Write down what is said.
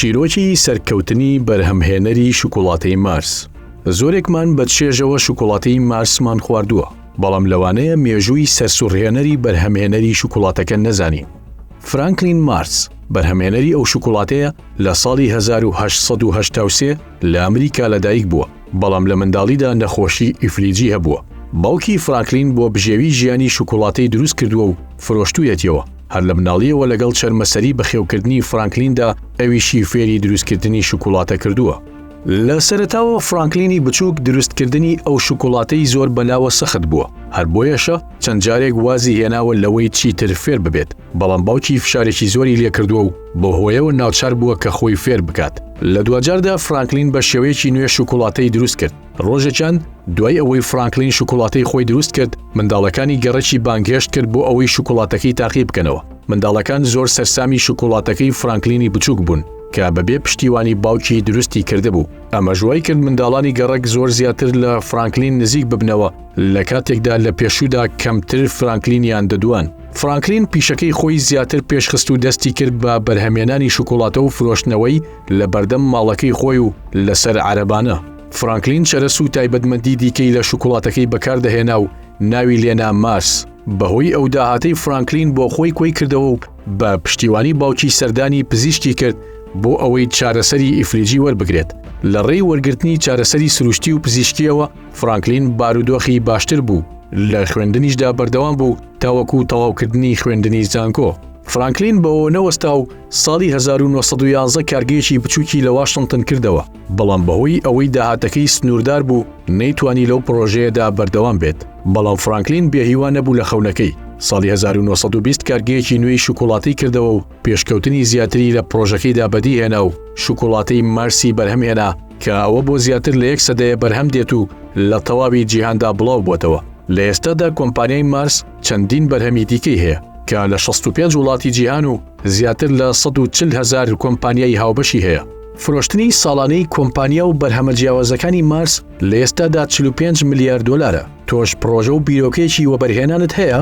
چیرۆکی سەرکەوتنی بەرهەمهێنەری شوکوڵاتەی مارس زۆرێکمان بە چێژەوە شوکوڵاتەی مارسمان خواردووە بەڵام لەوانەیە مێژووی سەرسوڕهێنەری بەرهەمهێنەری شوکوڵاتەکە نەزانین فرانکلین مارس بەرهەمێنەری ئەو شوکوڵاتەیە لە ساڵی 1970 لە ئەمریکا لەدایک بووە بەڵام لە منداڵیدا نەخۆشی ئیفلیجی هەبووە. باوکی فرانکلین بۆ بژێوی ژیانی شوکوڵاتەی دروست کردووە و فرۆشتوویەتیەوە. هەر لە مناڵیەوە لەگەڵ چەرمەسەری بەخێوکردنی فرانکلیندا ئەویشی فێری دروستکردنی شوکوڵاتە کردووە. لە سەرەتاوە فرانکلینی بچووک دروستکردنی ئەو شوکوڵاتەی زۆر بەلاوە سەخت بووە، هەر بۆیەشە چەند جارێک وازی هێناوە لەوەی چیتر فێر ببێت. بەڵام باوکی فشارێکی زۆری لێکردووە و بە هۆیەوە ناچار بووە کە خۆی فێر بکات لە دواجاردا فرانکلین بە شێوەیەکی نوێ شوکوڵاتەی دروست کرد ڕۆژێکیان دوای ئەوەی فرانکلین شوکوڵاتەی خۆی دروست کرد منداڵەکانی گەڕەکی بانگهێشت کرد بۆ ئەوەی شوکوڵاتەکەی تاقی بکەنەوە منداڵەکان زۆر سەرسامی شوکوڵاتەکەی فرانکلینی بچووک بوون کە بەبێ پشتیوانی باوکی دروستی کردبوو ئەمە ژوای کرد منداڵانی گەڕک زۆر زیاتر لە فرانکلین نزیک ببنەوە لە کاتێکدا لە پێشوودا کەمتر فرانکلینیان دەدوان فرانکلین پیشەکەی خۆی زیاتر پێشخست و دەستی کرد بە بەرهەمێنانی شوکوڵاتە و فرۆشتنەوەی لە بەردەم ماڵەکەی خۆی و لەسەر عەرەبانە. فرانکلین چەرەس و تایبەتمەندی دیکەی لە شوکوڵاتەکەی بەکاردەهێنا و ناوی لێنا مارس، بەهۆی ئەو داهاتەی فرانکلین بۆ خۆی کۆی کردەوە و بە پشتیوانی باوکی سەردانی پزیشکی کرد بۆ ئەوەی چارەسەری ئیفلیجی وەربگرێت. لە ڕێی وەرگرتنی چارەسەری سروشتی و پزیشکییەوە، فرانکلین بارودۆخی باشتر بوو، لە خوێندنیشدا بەردەوام بوو، تاوەکو تەواوکردنی خوێندنی زانکۆ. فرانکلین بەوە نەوەستا و ساڵی 1911 کارگەیەکی بچووکی لە واشنتن کردەوە، بەڵام بەهۆی ئەوەی داهاتەکەی سنووردار بوو، نەیتوانی لەو پڕۆژەیەدا بەردەوام بێت. بەڵام فرانکلین بێهیوا نەبوو لە خەونەکەی، ساڵی 1920 کارگەیەکی نوێی شوکوڵاتەی کردەوە و، پێشکەوتنی زیاتری لە پڕۆژەکەیدا بەدیهێنا و شوکۆڵاتەی مارسی بەرهەمهێنا کە ئەوە بۆ زیاتر لە یەک سەدەیە بەرهەم دێت و لە تەواوی جیهاندا بڵاو بووەتەوە. لە ئێستادا کۆمپانیای مارس چەندین بەرهەمی دیکەی هەیە کە لە شەست و پێنج وڵاتی جیهان و زیاتر لە سەد و چل هەزار کۆمپانیای هاوبەشی هەیە. فرۆشتنی ساڵانەی کۆمپانیا و بەرهەمە جیاوازەکانی مارس لە ئێستادا چل و پێنج ملیار دۆلارە. تۆش پڕۆژە و بیرۆکەیەکی وەبەرهێنانت هەیە؟